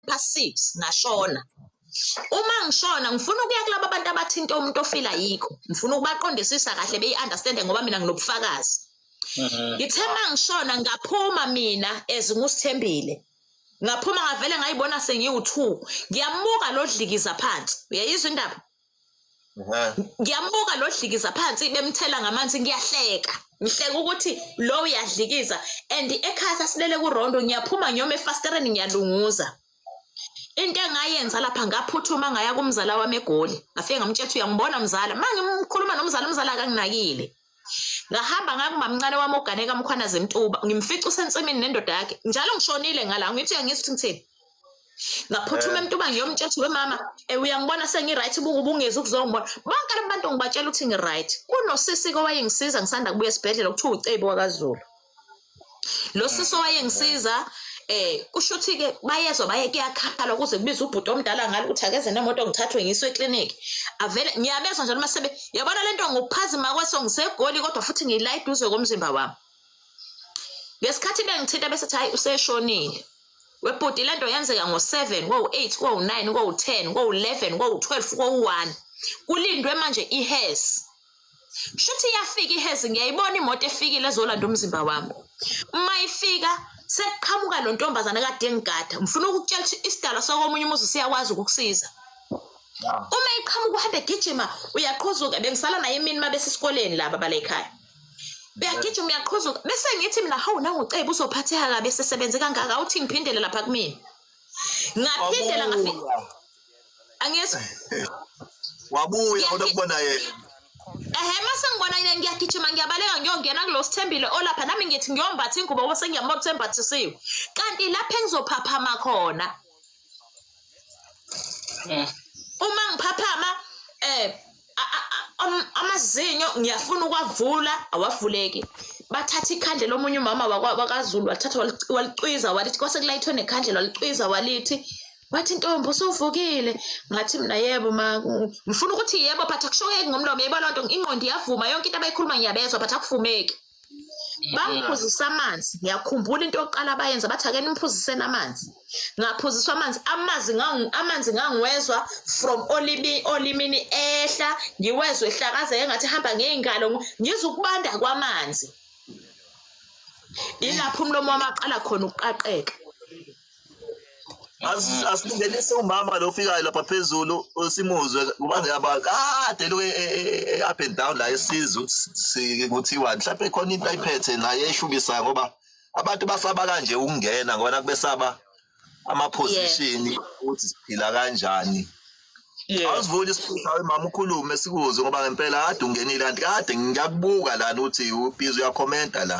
past six ngashona uma ngishona ngifuna ukuya kulaba bantu abathinta umuntu ofila yikho ngifuna ukubaqondisisa kahle beyi-understande ngoba mina nginobufakazi mhm. ngithe uma ngishona ngaphuma mina ezinguSithembile ngaphuma ngavele ngayibona sengiwu-two ngiyamuka lo dlikiza phansi uyayizwa indaba ngiyambuka lo dlikiza phansi bemthela ngamanzi ngiyahleka ngihleka ukuthi lo uyadlikiza and ekhaya sasilele kurondo ngiyaphuma ngiyoma efasitereni ngiyalunguza into engayenza lapha ngaphuthuma ngaya kumzala wami egoli ngafike ngamtshela ukuthi uyangibona mzala uma ngimkhuluma nomzala umzala akanginakile ngahamba ngangumamncane wami ogane kamkhwanazi mtuba ngimfica usensimini nendoda yakhe njalo ngishonile ngala ngithi uyangizwa ukuthi ngithini ngaphuthuma eh. emtuba ngiyomtshela we mama eh, uyangibona sengi-right ubungezi ukuzongibona bonke abantu ngibatshela ukuthi ngi-right kunosisi-ke owayengisiza ngisanda kubuya esibhedlela kuthiwa ucebi wakazulu lo sisi owayengisiza eh kusho ukuthi ke bayezwa baye kuyakhala ukuze kubize ubhuti omdala ngalo ukuthi akeze nemoto ngithathwe ngiswe eclinic avele ngiyabezwa njalo masebe yabona lento ngokuphazima kweso ngisegoli kodwa futhi ngiyila eduze komzimba wami ngesikhathi bengithinta bese thi hayi useshonile webhuti lento yenzeka ngo-7 kowu-8 kowu-9 kowu-10 kowu-11 kowu-12 kowu-1 kulindwe manje ihesi shuthi iyafika ihezi ngiyayibona imoto efikile ezolanda umzimba wami uma ifika sekuqhamuka lo ntombazane kade engigada ngifuna ukukutshela ukuthi isidalwa sakomunye umuzi siyakwazi ukukusiza uma iqhamuka uhambe gijima uyaqhuzuka bengisala naye emini uma besesikoleni laba bala ekhaya beyagijima uyaqhuzuka bese ngithi mina hawu nangucebe uzophatheka kabi esesebenze kangaka uthi ngiphindele lapha kumina ngaphindela ngafika angizwa wabuya kodwa kubona yena ehe mase ngibona yena ngiyagijima ngiyabaleka ngiyongena kulo sithembile olapha nami ngithi ngiyombatha ingubo ngoba sengiyambona ukuthi embathisiwe kanti lapha engizophaphama khona eh. uma ngiphaphama um amazinyo ngiyafuna ukwavula awavuleki bathatha ikhandlela omunye umama wakazulu wathatha walicwiza walithi kwase kulayithwe nekhandlela walicwiza walithi wathi ntombi usuvukile ngathi mina yebo ma ngifuna ukuthi yebo but akushoyeki ngomlomo yebo loo nto ingqondo iyavuma yonke into abayikhuluma ngiyabezwa but akuvumeki bamphuzisa amanzi ngiyakhumbula into yokuqala abayenza bathi ake nimphuziseni amanzi ngaphuziswa amanzi amanzi amanzi ngangiwezwa from olimi olimini ehla ngiwezwe ehlakazeke ngathi hamba ngey'ngalo ngizwa ukubanda kwamanzi ilapho umlomo wamaqala khona ukuqaqeka asingenise umama lo ofikayo lapha phezulu simuzwe kuba ngiyabala kade lo e, e, e, up and down la esizwe ukuthi kuthiwa mhlawumbe khona into ayiphethe naye eshukisayo ngoba abantu basaba kanje ukungena ngoba kubesaba amaposition ukuthi siphila kanjani awusivuli isiphutha mama ukhulume sikuze ngoba ngempela kade ungenile kanti kade ngiyakubuka lana ukuthi ubizi uyakhomenta la